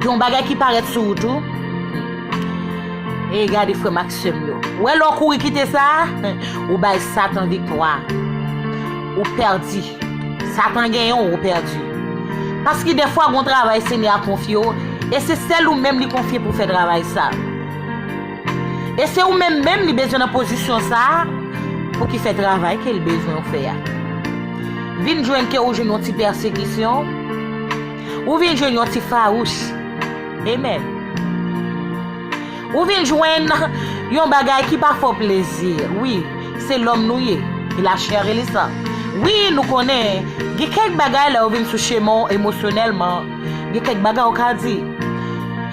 Gen yon bagay ki parèt sou ou tou. Ey gade frèm ak sèm yo. Ou wè lè w kouri kite sa, ou bay satan viktwa. Ou pèdi. Satan genyen w, ou pèdi. Paske dèfwa gon travay Senyè a konfye w e se sèl ou menm li konfye pou fè travay sa. E se ou menm menm li bezwen nan pozisyon sa pou ki fè travay ke l bezwen w fè a. Vin jwenn ke ou jwenn yon ti pèsekisyon. Ou vin jwenn yon ti fawouch. Amen. Ou vin jwenn yon bagay ki pa fè w plezi. Wi, se lòm nou ye. E la chè e le san. Wi, nou konnen, gen kèk bagay lè ou vin sou chemen w emosyonèlman, gen kèk bagay ou ka di.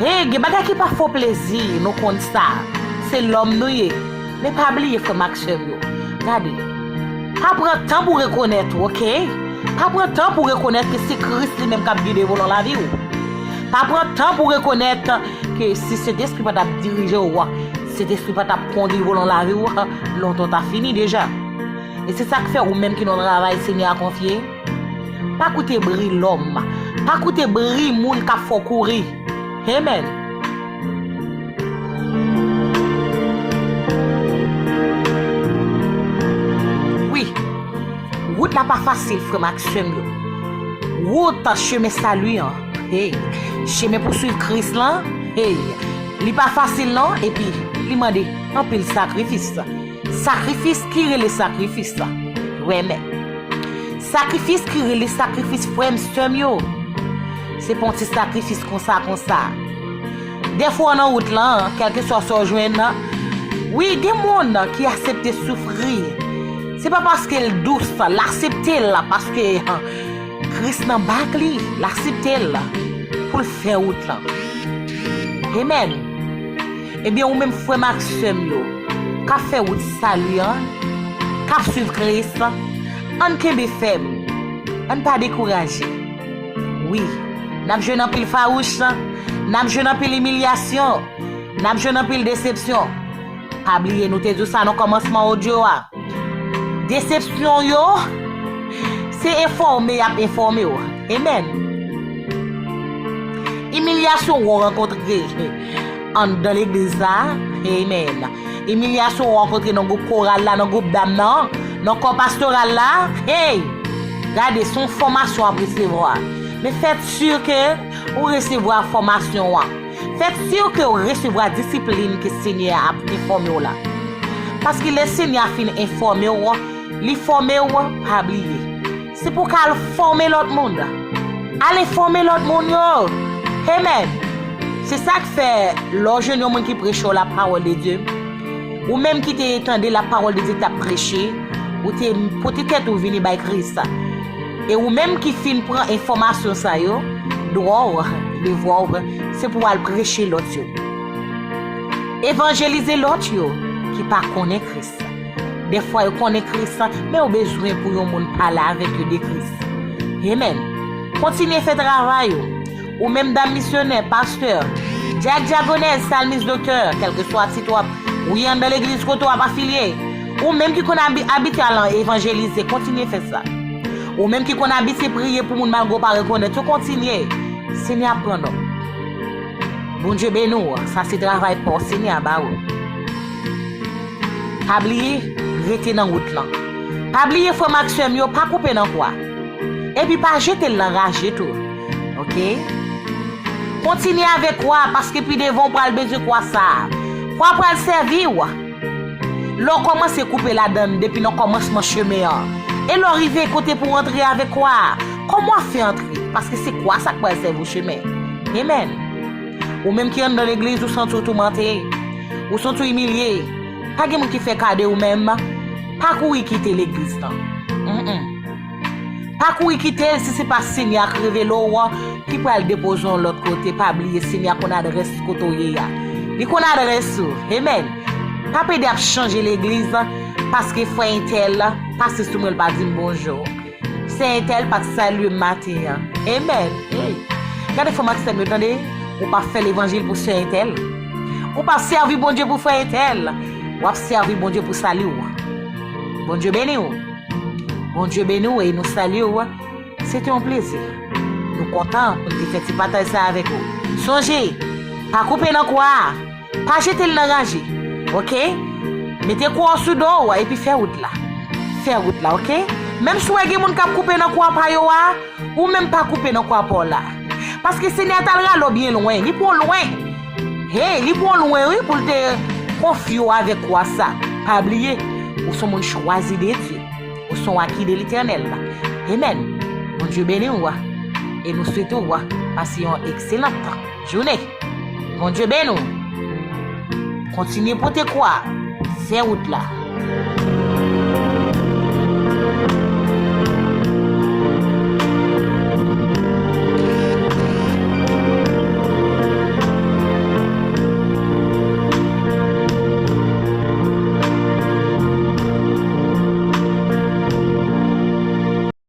E, gen bagay ki pa fè w plezi, nou konn sa. Se lòm nou ye. Men pa bliye frè m ak sè m yo, gade, pa pran tan pou rekonèt ou, oke, pa pran tan pou rekonèt ke se Kris li menm k ap gide volan lavi ou. Pa pran tan pou rekonèt ke si Sentespri pa t ap dirije ou, Sentespri pa t ap kondui volan lavi ou, lontan w ta fini deja. E se sa k fè ou menm ki nan travay Senyè a konfye, Pa koute bri lòm. Pa koute bri moun k ap fè w kouri. Amen. Wi, wout la pa fasil, frè m ak sè m yo. Wout chemen sali an, hey, chemen pou swiv Kris lan, hey, li pa fasil non, epi li mande anpil sakrifis. Sakrifis ki rele sakrifis la. Renmen. Sakrifis ki rele sakrifis frè m sè m yo. Se pa yon ti sakrifis konsa konsa. Dèfwa w nan wout lan, kèlkeswa sa w jwenn nan, wi gen moun ki asepte soufri. Se pa paske l dous, l asepte l la paske Kris nan bak li, l asepte l pou l fè wout lan. Amen. Ebyen ou menm frè m ak sè m yo kap fè wout sali an, kap swiv Kris la, ann kenbe fèm, ann pa dekouraje. Wi, n ap jwenn anpil fawouch, n ap jwenn anpil imilyasyon, n ap jwenn anpil desepsyon. Pa bliye nou te di w sa nan kòmansman odyo a, desepsyon yo se enfòme y ap enfòme w. Amen! Imilyasyon w rankontre. Anndan legliz la, amen. Imilyasyon ou rankontre nan gwoup koral la, nan gwoup dam nan, nan kò pastoral la, hey! Gade, se yon fòmasyon w ap resevwa. Men fè si ke ou resevwa fòmasyon an. Fè si ke ou resevwa disiplin ke Senyè a ap enfòme w la. Paske lè Senyè a fin enfòme w, li fòme w, pa bliye. Se pou w ka al fòme lòt moun. Ale fòme lòt moun yo. Amen! Se sa k fè, lè w jwenn yon moun ki preche w lapawòldedye, ou menm ki te tande lapawòldedye k ap preche, ou te pote tèt ou vini bay Kris, e ou menm ki fin pran enfòmasyon sa yo, dwa w, devwa w, se pou w al preche lòt yo. Evanjelize lòt yo ki pa konnen Kris. Dèfwa yo konnen Kris la, men yo bezwen pou yon moun pale avèk yo de Kris. Amen. Kontinye fè travay ou. Ou menm dam misyonè, pastè, dyak, dyagonèz, salmis, doktè, kèlkeswa tit wap, ou ye anndan legliz kote wap afilye, ou menm ki konn abite al evanjelize, kontinye fè sa. Ou menm ki konn abite priye pou moun malgre ou pa rekonèt yo, kontinye. Senyè ap pran nòt. Bondye beni w, sa se travay paw, Senyè a ba ou. Pa bliye rete nan wout lan. Pa bliye frè m ak sè m yo pa koupe nan kwa. Epi pa jete l nan raje tou. Ok. Kontinye avèk kwa a paske pi devan ou pral bezwen kwa sa a. Kwa a pral sèvi ou. Lè w kòmanse koupe ladan l depi nan kòmansman chemen an. E lè w rive kote pou w antre avèk kwa a. Kòman w ap fè antre paske se kwa sa k pral sèvi w chemen. Amen. Ou menm ki anndan legliz ou santi w toumante, ou santi w imilye, pa gen moun ki fè ka de ou men pa kouri kite legliz lan. Pa kouri kite l si se pa Senyè a k revele w ki pral depoze w lòt kote, pa bliye Senyè a konn adrès kote w ye a. Li konn adrès ou. Amen. Pa pede ap chanje legliz paske frè entèl pase sou mwen l pa di m bonjou. Sè Ethel pa t salye m maten an. Amen! Ey! Gade frè m ak sè m yo tande! Ou pa fè levanjil pou sè Ethel. Ou pa sèvi Bondye pou frè Ethel. W ap sèvi Bondye pou sali w. Bondye beni w! Bondye beni w e nou salye w. Se te yon plezi. Nou kontan pou n te fè ti pataj sa avèk ou. Sonje, pa koupe nan kwa a! Pa jete l nan raje ok. Mete kò w sou do w epi fè wout la. Fè wout la ok. Menm si w wè gen moun k ap koupe nan kwa pa yo a, ou menm pa koupe nan kwa pa w la. Paske Senyè a t al rale w byen lwen. Li pran w lwen. Hey, li pran w lwen wi pou l te konfye w avèk kwa sa. Pa bliye, ou s on moun chwazi de Dye. Ou s on aki de Letènèl. Amen. Bondye beni w. E nou swete w pase yon ekselan tan. Jounen. Bondye beni w. Kontinye pote kwa a. Fè wout la.